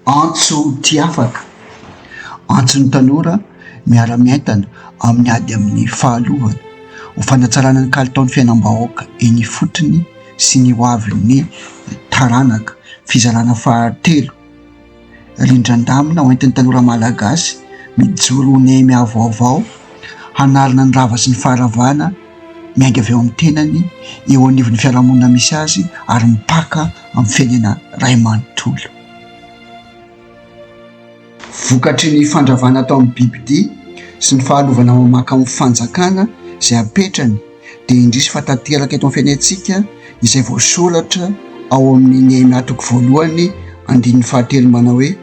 Antso tia afaka, antson'ny tanora miara-mientana amin'ny ady amin'ny fahalovana, ho fanatsarana ny kalitaon'ny fiainam-bahoaka eny ifotony sy ny hoavin'ny taranaka. Fizarana fahatelo, rindran-damina ho entin'ny tanora malagasy mijoro ho nemy avoavao, hanarina ny rava sy ny faharavana miainga avy ao amin'ny tenany, eo anivon'ny fiarahamonina misy azy ary mipaka. amin'ny fiainana iray manontolo. Vokatry ny fandravana atao amin'ny bibidia sy ny fahalovana mamanka amin'ny fanjakana izay apetrany dia indrisy fa tanteraka eto amin'ny fiainantsika izay voasoratra ao amin'ny Nehemia toko voalohany andininy fahatelo manao hoe,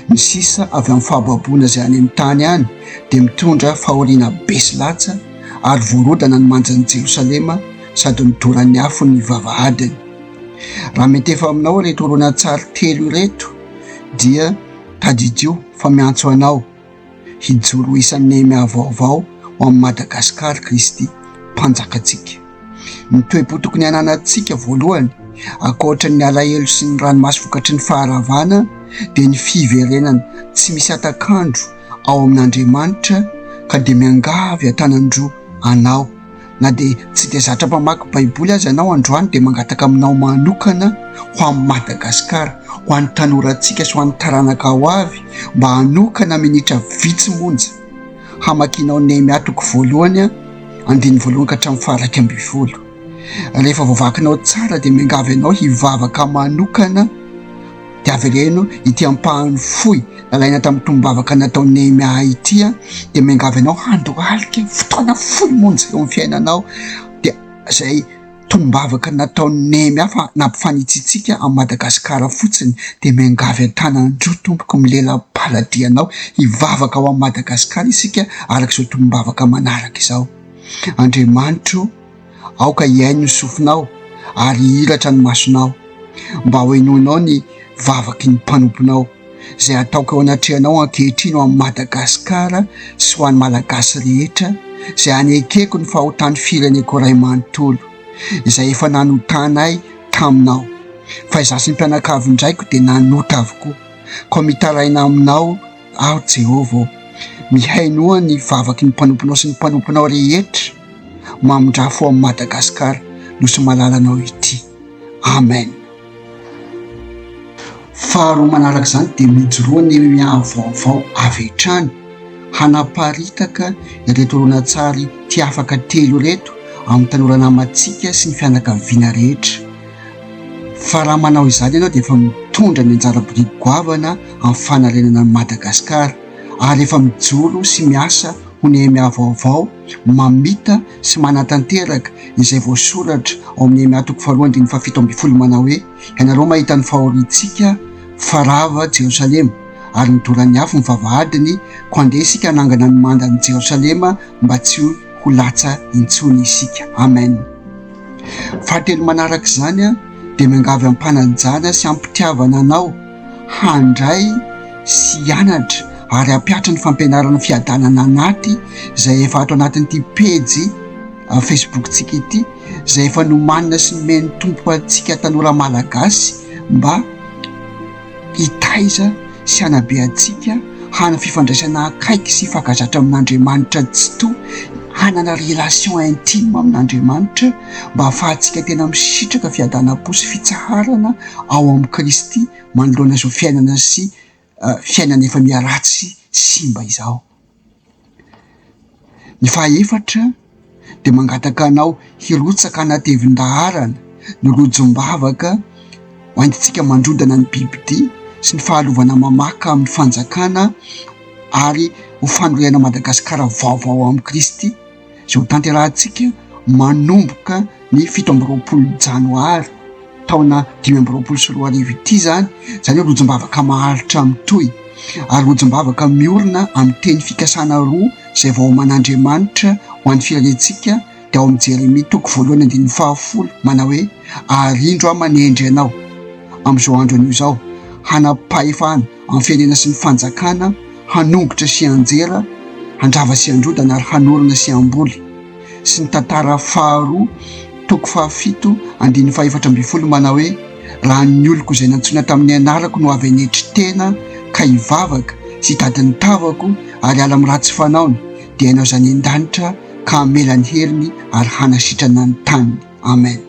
Ny sisa avy amin'ny fahababoana izay any amin'ny tany any dia mitondra fahoriana besy latsa ary voarodana ny manjan'i Jerosalema sady midoran'ny afo ny vavahadiny. Raha mety efa aminao ireto horonantsary telo ireto dia tadidio fa miantso anao Hijoro ho isan'ny Nehemia vaovao ho an'i Madagasikara Kristy Mpanjakantsika. Ny toe-po tokony hananantsika voalohany, ankoatra ny alahelo sy ny ranomaso vokatry ny faharavana, dia ny fiverenana tsy misy hatak'andro ao amin'Andriamanitra, ka dia miangavy an-tanan-droa Anao, Na dia tsy dia zatra mpamaky baiboly aza ianao androany dia mangataka aminao manokana ho an'i Madagasikara, ho an'ny tanorantsika sy ho an'ny taranaka ho avy mba hanokana minitra vitsy monja hamakianao Nehemia toko voalohany andininy voalohany ka hatramin'ny faharaika ambin'ny folo. Rehefa voavakinao tsara dia miangavy anao hivavaka manokana dia avereno ity ampahany fohy nalaina tamin'ny tombavaka nataon'i Nehemia ity an, dia miangavy anao handohalika fotoana fohy monja eo amin'ny fiainanao, dia izay tombavaka nataon'i Nehemia fa nampifanitsitsika an'i Madagasikara fotsiny, dia miangavy an-tanan-droa tompoko milela-paladianao hivavaka ho an'i Madagasikara isika araka izao tombavaka manaraka izao, Andriamanitro Aoka hihaino ny sofinao ary hihiratra ny masonao, mba hohenoinao ny vavaky ny mpanomponao, izay ataoko eo anatrehanao ankehitriny ho an'i Madagasikara sy ho an'ny Malagasy rehetra, izay hanekeko ny fahotan'ny fireneko iray manontolo, izay efa nanotanay taminao. Fa izaho sy ny mpianakavin-draiko dia nanota avokoa, koa mitaraina aminao, Aho Jehovah ô, mihainoa ny vavaky ny mpanomponao sy ny mpanomponao rehetra, mamindrà fo amin'i Madagasikara, Nosy malalanao ity. Amen. Faharoa manaraka izany dia mijoroa ny miaha vaovao avy hatrany hanaparitaka ireto horonantsary Ty Afaka telo ireto amin'ny tanora namantsika sy ny fianakaviana rehetra. Fa raha manao izany ianao dia efa mitondra ny anjara biriky goavana amin'ny fanarenana an'i Madagasikara ary efa mijoro sy miasa ho Nehemia vaovao mamita sy manatanteraka izay voasoratra ao amin'ny Nehemia toko faharoa andininy fahafito ambin'ny folo manao hoe, Ianareo mahita ny fahoriantsika fa rava Jerosalema ary midoran'ny afo ny vavahadiny, koa andeha isika hanangana ny mandan'i Jerosalema mba tsy ho latsa intsony isika. Amen. Fahatelo manaraka izany dia miangavy am-panajana sy am-pitiavana anao handray sy hianatra ary hampiatra ny fampianarana fiadanana anaty izay efa ato anatin'ity pejy Facebook-tsika ity izay efa nomanina sy nomen'ny Tompo antsika tanora Malagasy mba hitaiza sy hanabe antsika hanana fifandraisana akaiky sy fankazatra amin'Andriamanitra Tsitoha, hanana relation intime amin'Andriamanitra mba hahafahantsika tena misitraka fiadanam-po sy fitsaharana ao amin'i Kristy manoloana izao fiainana sy fiainana efa miharatsy sy simba izao. Ny fahaefatra dia mangataka anao hirotsaka hanatevin-daharana ny rojom-bavaka ho antsika mandrodana ny bibi-dia sy ny fahalovana mamaka amin'ny fanjakana ary ho fanorenan'i Madagasikara vaovao amin'i Kristy. izay ho tanterahantsika manomboka ny fito amby roapolo janoary taona dimy amby roapolo sy roa arivo ity izany, izany hoe rojom-bavaka maharitra mitohy ary rojom-bavaka miorina amin'ny teny fikasana roa izay vaoman'Andriamanitra ho an'ny firenentsika dia ao amin'ny Jeremia toko voalohany andininy fahafolo manao hoe ary indro aho manendry anao amin'izao andro anio izao hanam-pahefana amin'ny firenena sy ny fanjakana hanongotra sy hanjera, handrava sy handrodana ary hanorina sy hamboly sy ny tantara faharoa toko fahafito andininy fahefatra ambin'ny folo manao hoe raha ny oloko izay nantsoina tamin'ny anarako no avy hanetry tena ka hivavaka sy hitady ny tavako ary ala amin'ny ratsy fanaony dia hainao izany an-danitra ka hamela ny heriny ary hanasitrana ny taniny amen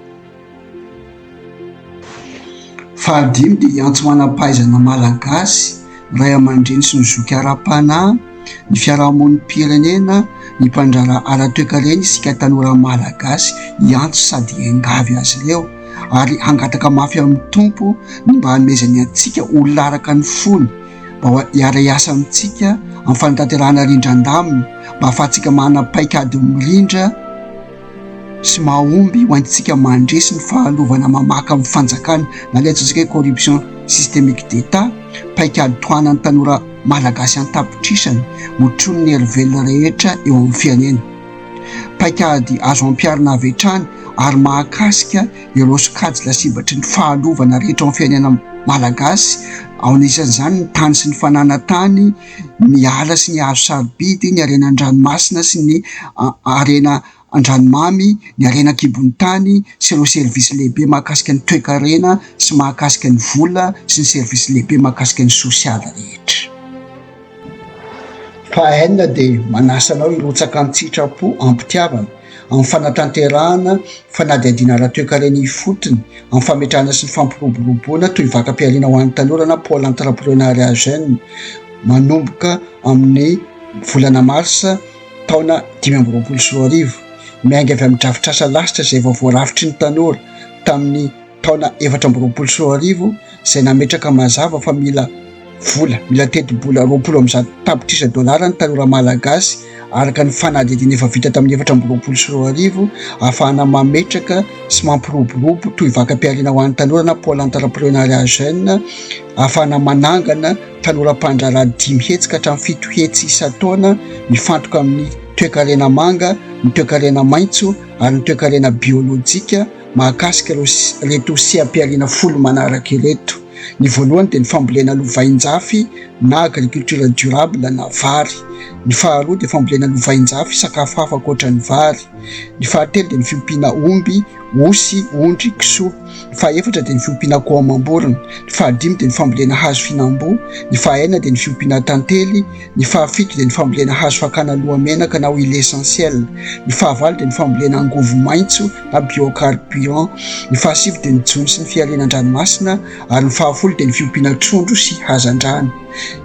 Fahadimy dia hiantso manam-pahaizana malagasy, ny ray aman-dreny sy ny zoky ara-panahy, ny fiarahamonim-pirenena, ny mpandraharaha ara-toekarena isika tanora malagasy hiantso sady hiangavy azy ireo ary hangataka mafy amin'ny Tompo ny mba hanomezany antsika olona araka ny fony mba hiara-hiasa amintsika amin'ny fanatanterahana rindran-damina mba hahafahantsika manana paik'ady mirindra sy mahomby ho antsika mandresy ny fahalovana mamaka amin'ny fanjakana na ilay antsointsika hoe corruption systemique d'Etat, paikady tohanan'ny tanora malagasy an-tapitrisany otronin'ny hery velona rehetra eo amin'ny fianena. Paikady azo ampiharina avy hatrany ary mahakasika ireo sokajy lasibatry ny fahalovana rehetra ao amin'ny fianena malagasy, ao anisan'izany ny tany sy ny fananantany, ny ala sy ny hazo sarobidy, ny harena an-dranomasina sy ny harena an-dranomamy, ny harena an-kibon'ny tany sy ireo servisy lehibe mahakasika ny toekarena sy mahakasika ny vola sy ny servisy lehibe mahakasika ny sosialy rehetra. Faha enina dia manasa anao hirotsaka an-tsitrapo am-pitiavana. amin'ny fanatanterahana fanadihadiana ara-toekarena ifotony, amin'ny fametrahana sy ny fampiroboroboana tohivakam-pihariana ho an'ny tanora na Pôle Entrepreneuriat Jeune, manomboka amin'ny volana marsa taona dimy amby roapolo sy roa arivo. Miainga avy amin'ny drafitrasa lasitra izay vao voarafitry ny tanora tamin'ny. taona efatra amby roapolo sy roa arivo izay nametraka mazava fa mila vola, mila tetibola roapolo amby zato tapitrisa dolara ny tanora malagasy araka ny fanadihadiana efa vita tamin'ny efatra amby roapolo sy roa arivo ahafahana mametraka sy mampiroborobo toy vakam-pihariana ho an'ny tanora na pôle entrepreneuriat jeune ahafahana manangana tanora mpandraharaha dimy hetsy ka hatramin'ny fito hetsy isan-taona mifantoka amin'ny toekarena manga, ny toekarena maitso ary ny toekarena biolojika. mahakasika ireto seha-pihariana folo manaraka ireto. Ny voalohany dia ny fambolena lovain-jafy na agriculture durable na vary. Ny faharoa dia fambolena lovain-jafy sakafo hafa ankoatra ny vary. Ny fahatelo dia ny fiompiana omby, osy, ondry, kisoa. Ny fahaefatra dia ny fiompiana akoho amam-borona. Ny fahadimy dia ny fambolena hazo fihinam-boa. Ny fahaenina dia ny fiompiana tantely. Ny fahafito dia ny fambolena hazo fakana lohamenaka na huile essentielle. Ny fahavalo dia ny fambolena angovo maitso na biocarburant. Ny fahasivy dia ny jono sy ny fihariana an-dranomasina ary ny fahafolo dia ny fiompiana trondro sy hazandrano.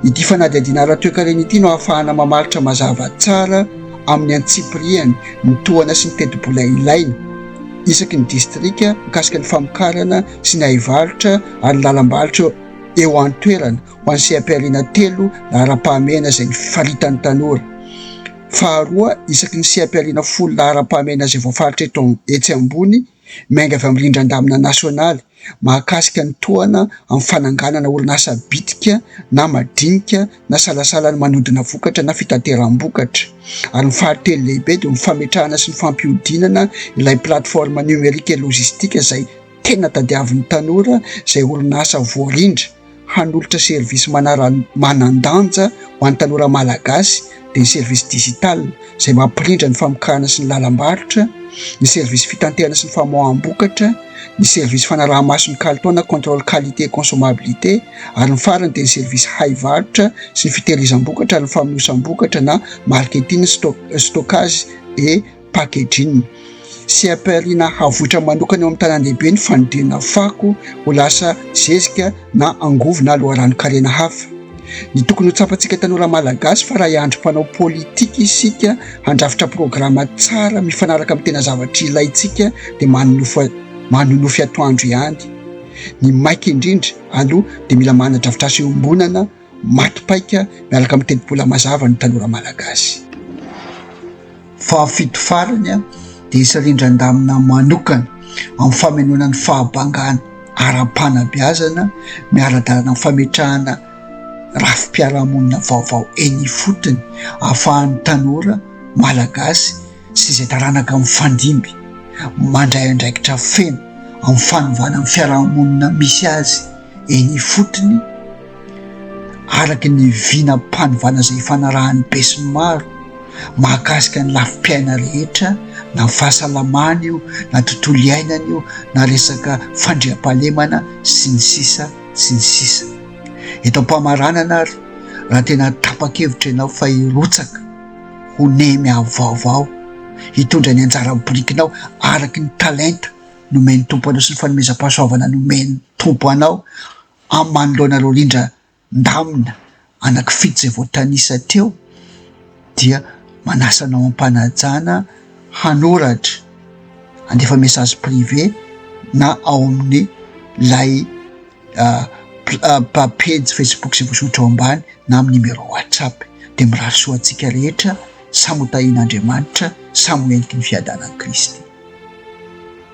Ity fanadihadiana ara-toekarena ity no ahafahana mamaritra mazava tsara amin'ny antsipirihany ny tohana sy ny tetibola ilaina isaky ny distrika mikasika ny famokarana sy ny haivarotra ary ny lalam-barotra eo an-toerana seha-pihariana telo laharam-pahamehana izay faritan'ny tanora. Faharoa, isaky ny seha-pihariana folo laharam-pahamehana izay voafaritra eto etsy ambony, miainga avy amin'ny rindran-damina nasionaly mahakasika ny tohana amin'ny fananganana orinasa bitika na madinika na salasala ny manodina vokatra na fitateram-bokatra. Ary ny fahatelo lehibe dia ny fametrahana sy ny fampihodinana ilay plateforme numérique et logistique izay tena tadiavin'ny tanora izay orinasa voarindra hanolotra service manara manan-danja ho an'ny tanora Malagasy dia ny service digital izay mampirindra ny famokarana sy ny lalam-barotra, ny service fitanterana sy ny famoaham-bokatra, ny service fanaraha-maso ny kalitao na contrôle qualité et consommabilité ary ny farany dia ny service hay varotra sy ny fitehirizam-bokatra ary ny famonosam-bokatra na marketing, stockage et. packaging. Seha-pihariana havoitra manokana eo amin'ny tanàn-dehibe ny fanodinana fako ho lasa zezika na angovo na loharanon-karena hafa. Ny tokony ho tsapantsika tanora Malagasy fa raha hiandry mpanao politika isika handrafitra programa tsara mifanaraka amin'ny tena zavatra ilaintsika dia manonofy manonofy atoandro ihany. Ny maika indrindra aloha dia mila manadrafitrasa iombonana maty paika miaraka amin'ny tetibola mazava ny tanora malagasy. Fahafito farany dia hisy rindran-damina manokana amin'ny famenoana ny fahabangana ara-panabeazana miara-dalana amin'ny fametrahana rafi-piarahamonina vaovao eny ifotony ahafahan'ny tanora malagasy sy izay taranaka mifandimby mandray andraikitra feno amin'ny fanovana ny fiarahamonina misy azy Eny ifotony, araka ny vinam-panovana izay ifanarahan'ny besinimaro mahakasika ny lafim-piaina rehetra, na fahasalamana io, na tontolo iainana io, na resaka fandriampahalemana, sy ny sisa sy ny sisa. Eto am-pamaranana ary, raha tena tapa-kevitra ianao fa hirotsaka ho nemy avo vaovao, hitondra ny anjara birikinao araka ny talenta, nomen'ny Tompo anao sy ny fanomezam-pahasoavana nomen'ny Tompo anao amin'ny manoloana ireo rindra ndamina anankifito izay voatanisa teo dia manasa anao am-panajana hanoratra andefa message privé na ao amin'ny lay ah, ah, pejy Facebook izay voasoratra ao ambany na amin'ny numéro WhatsApp dia mirary soa antsika rehetra samy ho tahin'Andriamanitra samy ho entiky ny fiadanan'i Kristy